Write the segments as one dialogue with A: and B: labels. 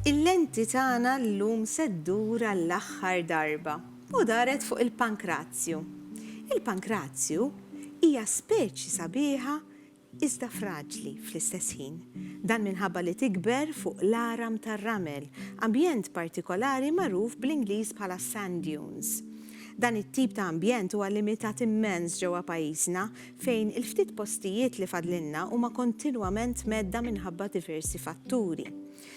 A: Il-lenti tagħna llum se ddur għall-aħħar darba u daret fuq il-pankrazju. Il-pankrazju hija speċi sabiħa iżda fraġli fl-istess ħin. Dan minħabba li tikber fuq l-għaram tar-ramel, ambjent partikolari magħruf bl-Ingliż bħala sand dunes. Dan it-tip ta' ambjent huwa limitat immens ġewwa pajjiżna, fejn il-ftit postijiet li fadlilna huma kontinwament mhedda minħabba diversi fatturi.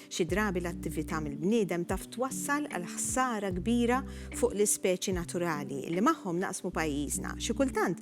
A: Xi drabi l-attività mill-bniedem taf twassal għal ħsara kbira fuq l-ispeċi naturali li magħhom naqsmu pajjiżna, xi kultant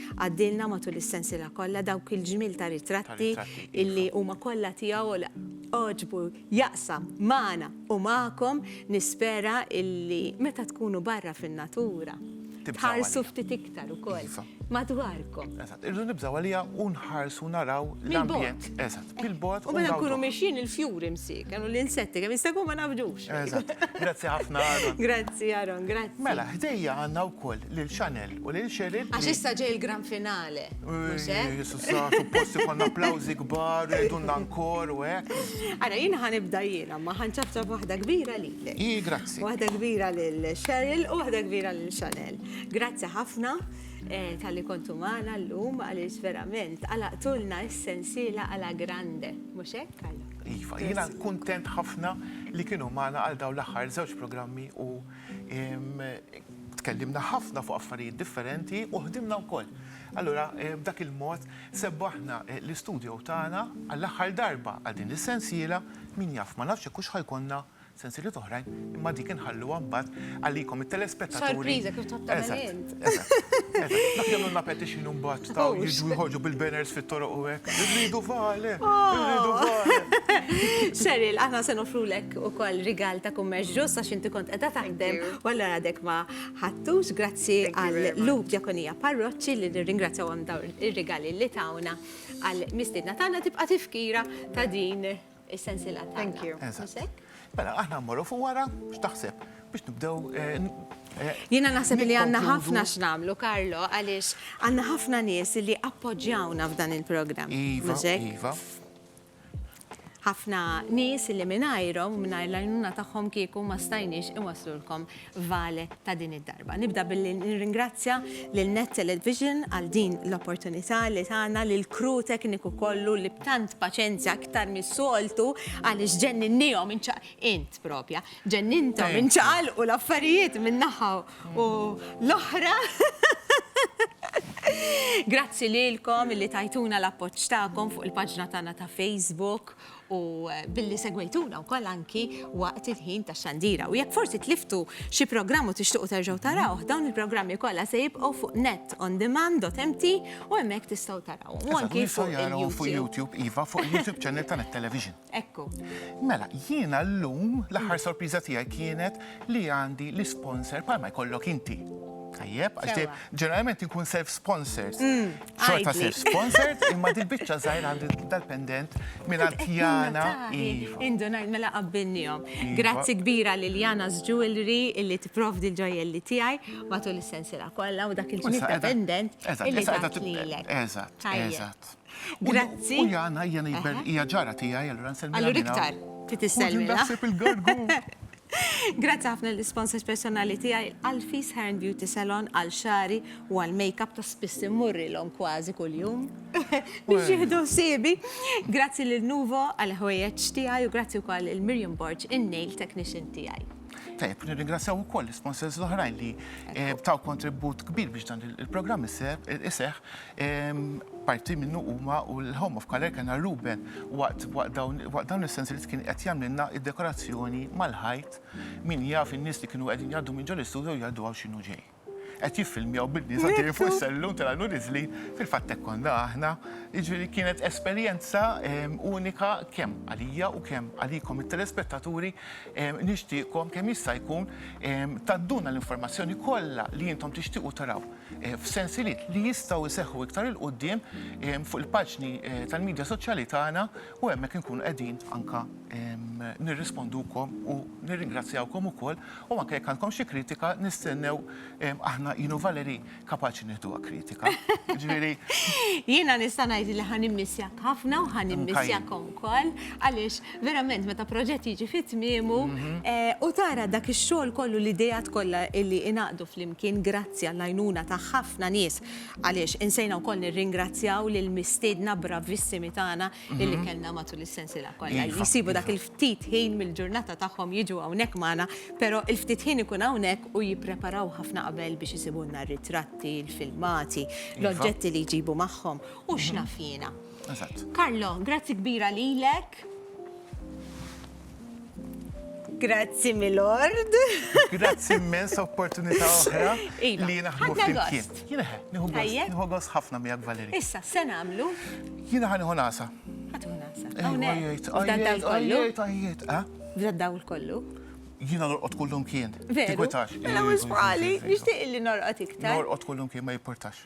A: Għaddielna matul is-sensiela kollha dawk il-ġmiel ta' ritratti illi huma kollha tiegħu u li għoġbu jaqsam magħna u magħkom. Nispera illi meta tkunu barra fin-natura tħarsu ftit iktar ukoll madwarkom. Eżatt, irridu nibżgħu
B: għaliha u nħarsu naraw l-ambjent. Mill-bogħod. Eżatt. bil-bot. U mela nkunu
A: miexjin il-fjuri msik, għanu l-insetti, għem jistagu ma nafġux. Grazzi
B: ħafna, Aaron. Grazzi, Aaron, grazzi.
A: Mela, ħdejja għanna
B: u koll l-Chanel u l-Cheryl. Għax issa ġej il-gran
A: finale. Jisu sa,
B: supposti konna applawzi gbar, dunna nkor u għek. Għara, jina ħanibda
A: jina, ma ħanċafċa waħda kbira li l I, grazzi. Waħda
B: kbira
A: l-Cheryl u waħda kbira l-Chanel. Grazzi ħafna. Talli kontu magħna llum għaliex verament għalaqtulna s-sensiela Alla Grande, mhux hekk Carlo? Iva, jiena
B: kuntent ħafna li kienu magħna għal dawn l-aħħar żewġ programmi u tkellimna ħafna fuq affarijiet differenti u ħdimna wkoll. Allura b'dak il-mod sebbaħna l-istudio tagħna għall-aħħar darba għal din is-sensiela, min jaf ma nafx jekk hux ħa jkollna Sensieliet oħrajn, imma dik inħalluha mbagħad għalikom it-telespettaturi. Sorpriża kif tħobb tagħmel
A: int.
B: Dak jagħmlu na petition mbagħad ta' jiġu jħoġu bil-banners fit-toroq u hekk. Irridu vale, irridu oh. vale. Cheryl,
A: aħna se nofrulek ukoll rigal ta' kummerċ ġust għax inti kont qiegħda taħdem u allura għadek ma ħattux grazzi għal Luke Diakonija Parroċċi li nirringrazzjawhom dawn ir-rigali li tawna għal mistiedna tagħna tibqa' tifkira ta' din Is-sensiela tagħna. Thank you. Mhux Eżatt. hekk?
B: Mela, aħna mmorru fuq wara, x'taħseb? Biex nibdew. eh, n- eh, Jiena
A: naħseb li għandna nikkonkludu. ħafna x'namlu, Karlo, għaliex għandna ħafna nies li appoġġjawna f'dan il-programm. Iva, Mhux hekk? iva. ħafna nies li mingħajrhom u mingħajr l-għajnuna tagħhom kieku ma stajniex iwasslulkom Vale ta' din id-darba. Nibda billi nirringrazzja lil Net Television għal din l-opportunità li tana lill-crew tekniku kollu li b'tant paċenzja aktar mis-soltu għaliex ġenninniehom inċa int proprja ġenninthom inċaqalqu l-affarijiet minn naħa u l-oħra. Grazzi lilkom illi tajtuna l-appoġġ tagħkom fuq il-paġna tagħna ta' Facebook u billi segwejtuna wkoll anki waqt il-ħin tax-xandira. U jekk forsi tliftu xi programm u tixtuqu terġgħu tarawh, dawn il-programmi kollha se jibqgħu fuq netondemand.mt u hemmhekk tistgħu tarawhom. U anki fuq YouTube. Iva, fuq
B: il-YouTube channel ta' Net Television. Ekku.
A: Mela,
B: jiena llum l-aħħar sorpriża tiegħi kienet li għandi l-isponsor bħalma jkollok inti. Tajjeb, għax ġeneralment inkun self-sponsored. Xorta sir sponsored, imma din biċċa żgħir għandi dal-pendent minn Jana. Iva. Indunajt
A: mela qabbilnihom. Iva. Grazzi kbira lil Jana's Jewelry illi tipprovdi l-ġojjelli tiegħi matul is-sensiela kollha u dak il-ġnib ta' pendent illi tat lilek. Eżatt, eżatt.
B: Grazzi.
A: U Jana
B: hija ġara tiegħi, allura nsellmilha. Allura iktar,
A: titisselmilha. Naħseb il-gargu.
B: Grazzi
A: ħafna lill-isponsors personali tiegħi, Alfie's Hair and Beauty Salon għal xagħri u għal makeup ta' spiss immurrilhom kważi kuljum biex jieħdu ħsiebi. Grazzi lil Nuvo għall-ħwejjeġ tiegħi u grazzi wkoll lil Miriam Borg, in-nail technician tiegħi. Tajjeb, nirringrazzjaw
B: ukoll l-isponsors l-oħrajn li taw kontribut kbir biex dan il-programm iseħħ, Parti minnu huma u l-Home of Color kena Ruben waqt dawn is-sensi li kien qed jagħmlilna id-dekorazzjoni mal-ħajt min jaf in-nies li kienu qegħdin jgħaddu minn ġol istudio jgħaddu hawn x'inhu ġej. Qed jiffilmjaw bin-nies għaddejjin fuq is-sellum telgħu niżlin, fil-fatt hekk konna aħna. Jiġifieri kienet esperjenza unika kemm għalija u kemm għalikom it-telespettaturi. Nixtieqkom kemm jista' jkun tgħadduna l-informazzjoni kollha li intom tixtiequ taraw. f'sensiliet li jistgħu jseħħu iktar 'il quddiem fuq il-paġni tal-midja soċjali tagħna u hemmhekk inkunu qegħdin anke nirrispondukom u nirringrazzjawkom ukoll u anke jekk għandkom xi kritika nistennew aħna jien u Valerie kapaċi nieħduha kritika. Jiġifieri. Jiena
A: nista' ngħid li ħa nimmissjak ħafna u ħa nimmissjakom ukoll għaliex Verament meta proġett jiġi fi tmiemu u tara dak ix-xogħol kollu l-ideat kollha li ingħaqdu flimkien grazzi għall-għajnuna ta' ħafna nies, għaliex insejna wkoll nirringrazzjaw lill-mistiedna bravissimi tagħna li kellna matul is-sensiela kollha li jsibu dak il-ftit ħin mill-ġurnata tagħhom jiġu hawnhekk magħna, però il-ftit ħin ikun hawnhekk u jippreparaw ħafna qabel biex isibulna r-ritratti, il-filmati, l-oġġetti li jġibu magħhom u x'naf jiena. Eżatt. Carlo, grazzi kbira lilek. Grazzi Milord. Grazzi
B: immens opportunità oħra iva, li naħdmu fil-kien. Jiena
A: nieħu gost ħafna
B: miegħek Valeri. Issa se nagħmlu.
A: Jiena ħa nieħu nasa.
B: Ħadu nasa.
A: Għajjejt, għajjejt,
B: għajjejt, għajjejt. Bda dawl kollu.
A: Jiena norqod
B: kullum kien. Veru. Mela
A: wisqali, nixtieq li norqod iktar. Norqod kullum kien ma jipportax.